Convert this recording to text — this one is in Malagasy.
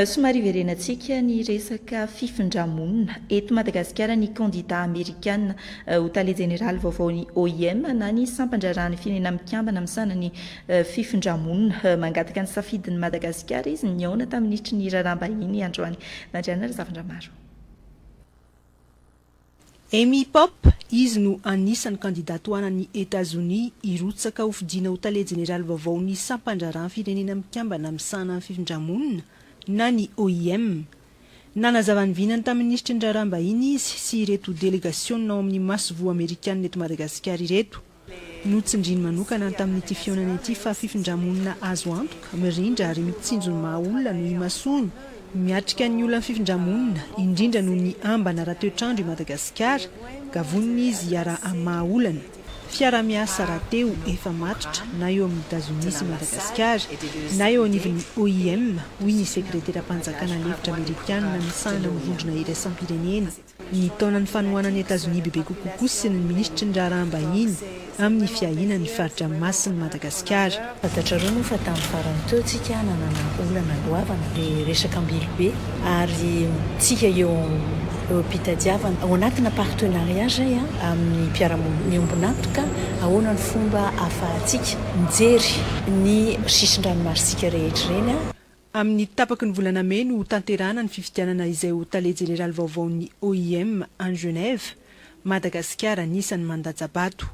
Somary hiverenantsika ny resaka fifindra-monina. Eto Madagasikara, ny kandidà amerikana ho tale jeneraly vaovaon'ny OIM na ny Sampan-draharahan'ny Firenena Mikambana misahana ny fifindra-monina. Mangataka ny safidin'i Madagasikara izy nihaona tamin'ny minitry ny raharaham-bahiny androany. Nandriana Razafindramaro. Amy Popp, izy no anisan'ny kandida tohanan'i Etazonia hirotsaka ho fidiana ho tale jeneraly vaovaon'ny Sampan-draharahan'ny Firenena Mikambana Misahana ny Fifindrà-monina na ny OIM. Nanazava ny vinany tamin'ny minisitry ny Raharaham-bahiny izy sy ireto delegasiona ao amin'ny masoivoho amerikanina eto Madagasikara ireto. Notsindriny manokana tamin'ity fihaonana ity fa fifindrà-monina azo antoka, mirindra ary mitsinjo ny maha olona no imasoany. Miatrika ny olan'ny fifindrà-monina, indrindra noho ny ambana ara-toetr'andro i Madagasikara, ka vonona izy hiaraha amin'ny maha olana. Fiaraha-miasa rahateo efa matotra na eo amin'i Etazonia sy Madagasikara, na eo anivon'ny OIM, hoy ny sekreteram-panjakana lefitra amerikanina misahana ny vondrona iraisam-pirenena. Ny taona ny fanohanan'i Etazonia bebe kokoa koa sy ny minisitry ny raharaham-bahiny amin'ny fiahiana ny faritra masin'i Madagasikara. Fantatrareo moa fa tamin'ny farany teo tsika nanana olana goavana ny resaka Ambilobe ary tsika eo eo am-pitadiavana ao anatina partenariat zay amin'ny mpiara-monina miombon'antoka ahoana ny fomba ahafahantsika mijery ny sisin-dranomasitsika rehetra ireny. Amin'ny tapaky ny volana mey no hotanterahana ny fifidianana izay ho tale jeneraly vaovaon'ny OIM any Genève, Madagasikara anisan'ny mandatsa-bato.